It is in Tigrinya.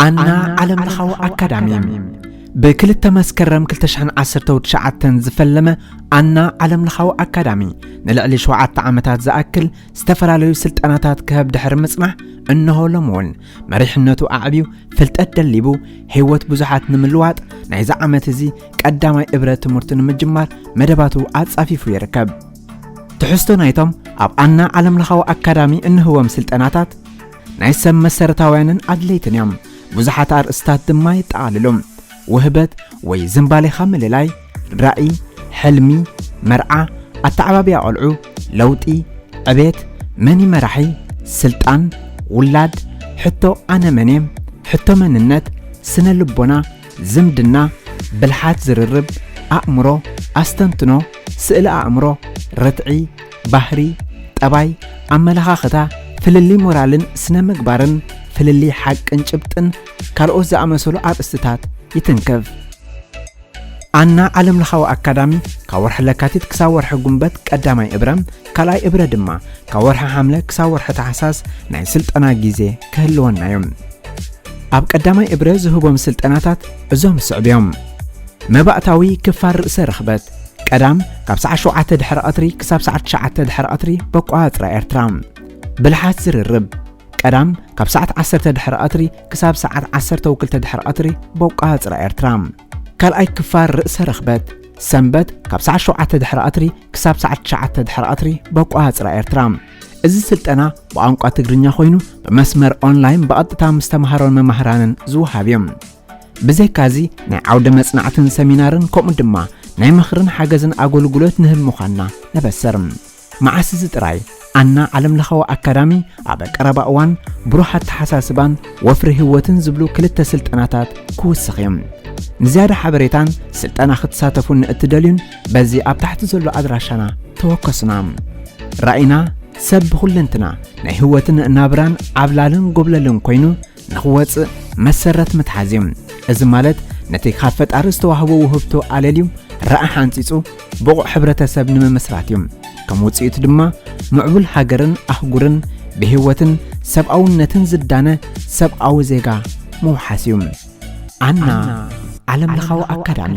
ኣና ዓለምለኻዊ ኣካዳሚ ብ ክልተ መስከረም ክልተ ሽሕን ዓሰርተው ትሽዓተን ዝፈለመ ኣና ዓለምለኻዊ ኣካዳሚ ንልዕሊ ሸውዓተ ዓመታት ዝኣክል ዝተፈላለዩ ስልጠናታት ክህብ ድሕሪ ምጽናሕ እነሆ ሎሚ እውን መሪሕነቱ ኣዕብዩ ፍልጠት ደሊቡ ህይወት ብዙሓት ንምልዋጥ ናይዚ ዓመት እዚ ቀዳማይ እብረ ትምህርቱ ንምጅማር መደባቱ ኣጻፊፉ ይርከብ ትሕዝቶ ናይቶም ኣብ ኣና ዓለምለኻዊ ኣካዳሚ እንህቦም ስልጠናታት ናይ ሰብ መሰረታውያንን ኣድለይትን እዮም። ብዙሓት ኣርእስታት ድማ የጠቓልሉ። ውህበት ወይ ዝምባሌኻ ምልላይ፣ ራኢ፣ ሕልሚ፣ መርዓ፣ ኣተዓባብያ ቖልዑ፣ ለውጢ፣ ዕቤት፣ መን እዩ መራሒ፣ ስልጣን፣ ውላድ፣ ሕቶ ኣነ መን እየ፣ ሕቶ መንነት፣ ስነ ልቦና፣ ዝምድና፣ ብልሓት ዝርርብ፣ ኣእምሮ፣ ኣስተንትኖ፣ ስእሊ ኣእምሮ፣ ርትዒ፣ ባህሪ፣ ጠባይ፣ ኣመለኻኽታ፣ ፍልልይ ሞራልን ስነ ምግባርን፣ ፍልልይ ሓቅን ጭብጥን ካልኦት ዝኣመሰሉ ኣርእስትታት ይትንክፍ። ኣና ዓለምለኻዊ ኣካዳሚ ካብ ወርሒ ለካቲት ክሳብ ወርሒ ጉንበት ቀዳማይ እብረ ካልኣይ እብረ ድማ ካብ ወርሒ ሓምለ ክሳብ ወርሒ ታሕሳስ ናይ ስልጠና ግዜ ክህልወና እዩ። ኣብ ቀዳማይ እብረ ዝህቦም ስልጠናታት እዞም ዝስዕቡ እዮም። መባእታዊ ክፋል ርእሰ ርኽበት ቀዳም ካብ ሰዓት ሸውዓተ ድሕሪ ቐትሪ ክሳብ ሰዓት ትሽዓተ ድሕሪ ቐትሪ በቋፅራ ኤርትራ ብልሓት ዝርርብ ቀዳም ካብ ሰዓት ዓሰርተ ድሕሪ ቐትሪ ክሳብ ሰዓት ዓሰርተው ክልተ ድሕሪ ቐትሪ በቋፅራ ኤርትራ ካልኣይ ክፋል ርእሰ ርኽበት ሰንበት ካብ ሰዓት ሸውዓተ ድሕሪ ቐትሪ ክሳብ ሰዓት ትሽዓተ ድሕሪ ቐትሪ በቋፅራ ኤርትራ እዚ ስልጠና ብቋንቋ ትግርኛ ኮይኑ ብመስመር ኦንላይን ብቐጥታ ምስ ተምሃሮን መማህራንን ዝወሃብ እዩ። ብዘይካዚ ናይ ዓውደ መጽናዕትን ሰሚናርን ከምኡ ድማ ናይ ምኽርን ሓገዝን ኣገልግሎት ንህብ ምዃንና ነበስር። መዓስ እዚ ጥራይ ኣና ዓለም ለኻዊ ኣካዳሚ ኣብ ቀረባ እዋን ብሩህ ኣተሓሳስባን ወፍሪ ህይወትን ዝብሉ ክልተ ስልጠናታት ክውስኽ እዮም። ንዝያዳ ሓበሬታን ስልጠና ክትሳተፉን ንእትደልዩን በዚ ኣብ ታሕቲ ዘሎ ኣድራሻና ተወከሱና። ራእይና ሰብ ብኹለንትና ናይ ህይወትን ናብራን ዓብላልን ጎብለልን ኮይኑ ንኽወጽእ መሰረት ምትሓዝ እዩ። እዚ ማለት ነቲ ካብ ፈጣሪ ዝተዋህቦ ውህብቶ ኣለልዩ ረኣሕ ኣንጺጹ ብቑዕ ሕብረተሰብ ንምምስራት እዩ። ከም ውጽኢቱ ድማ ምዕቡል ሃገርን ኣህጉርን ብህይወትን ሰብኣውነትን ዝዳነ ሰብኣዊ ዜጋ ምውሓስ እዩ። ኣና ዓለምለኻዊ ኣካዳሚ